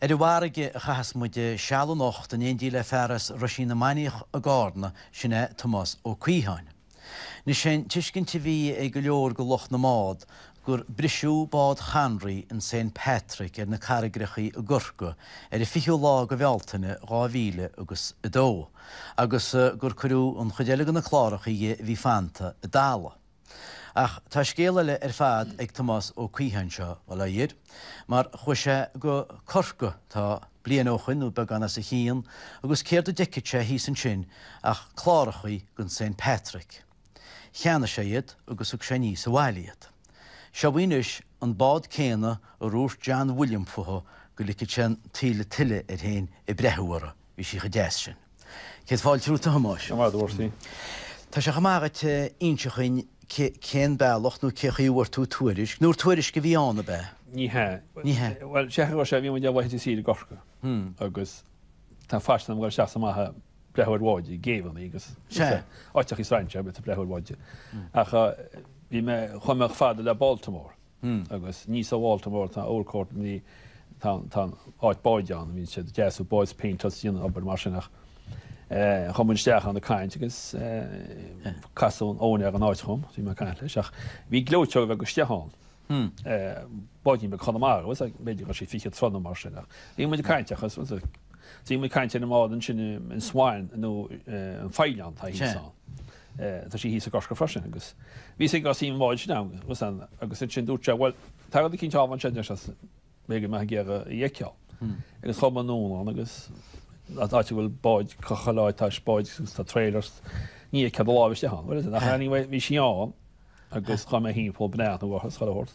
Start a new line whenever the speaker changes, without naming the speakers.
Ar an bhfarraige a chaitheas muid seal anocht, in éindí le fear as Ruisín na Manach i gCarna, sin é Tomás Ó Caodháin. Anois sé'n tuiscint a bhí ag go leor de lucht na mbád gur briseadh bád Chonroy an Saint Patrick ar na carraigeachaí i gCorca ar an 20ú lá de Bhealtaine dhá mhíle agus a dó agus gur cuireadh an chuid eile de na clárachaí bhí fanta i dtalamh. Ach tá scéal eile ar fad ag Tomás Ó Caodháin seo, bail ó Dhia air, mar chuaigh sé go Corca tá bliain ó shoin nó beagán os a chionn agus céard a d'fheicfead sé thíos ansin ach clárachaí den Saint Patrick. Cheannaigh sé iad agus thug sé aníos abhaile iad. Seo dhaoibh anois an bád céanna ar dhúirt John William fúithi go ligfead sé an taoille tuile air fhéin ag breathnú uirthi. Bhí sí cho deas sin. Céad fáilte romhat a Thomáis. Go raibh maith agat. Tá sé chomh maith dhuit a inseacht dhúinn cén bealach nó cé chaoi a bhfuair tú tuairisc, nó ar tuairisc a bhí ann ab eadh? Ní hea. Ní hea. Bhuel, sé chaoi sé, bhí muid imithe ar saoire i gCorca agus tá faisean agam a ghoil isteach is amach ag breathnú ar bháid, céibheannaí agus Sea. áiteachaí strainséara, ag breathnú ar bháid. Ach bhí mé, chuaigh mé chomh fada le Baltimore. Hmm, agus níos ó Bhaltimore tá Oldcourt ansin, tá, tá an áit báid ann, bhíonn siad ag deasú báid 's ag péinteáil is ag déanamh obair mar sin ach eh chuaigh muid isteach ann ag caint agus eh casadh úinéir na háite orm, bhí mé ag caint leis ach bhí gleoiteog bheag isteach ann. Hmm. Eh báidín beag Chonamara was like b'fhéidir bhí sí fiche troigh nó mar sin ach bhí muid ag caint ach was like bhí muid ag caint ar an mbád ansin an Swan nó eh an Fhaoileann atá thíos ann. Sea. Tá sí thíos i gCorcaigh freisin agus bhí suim againn sa mbád sin ann agus ann agus ansin dúirt sé bhuel tá ceann eile thall ansin leis is b'fhéidir gur mhaith leat í a fheiceáil agus chuaigh muid anonn ann agus áit a bhfuil báid caite a leaid tá is báid agus tá trailers ní a gcéad a láimh istigh ann bhuel anyway bhí sí ann agus chuaigh mé timpeall bneá na bhfach a scoil a thabhairt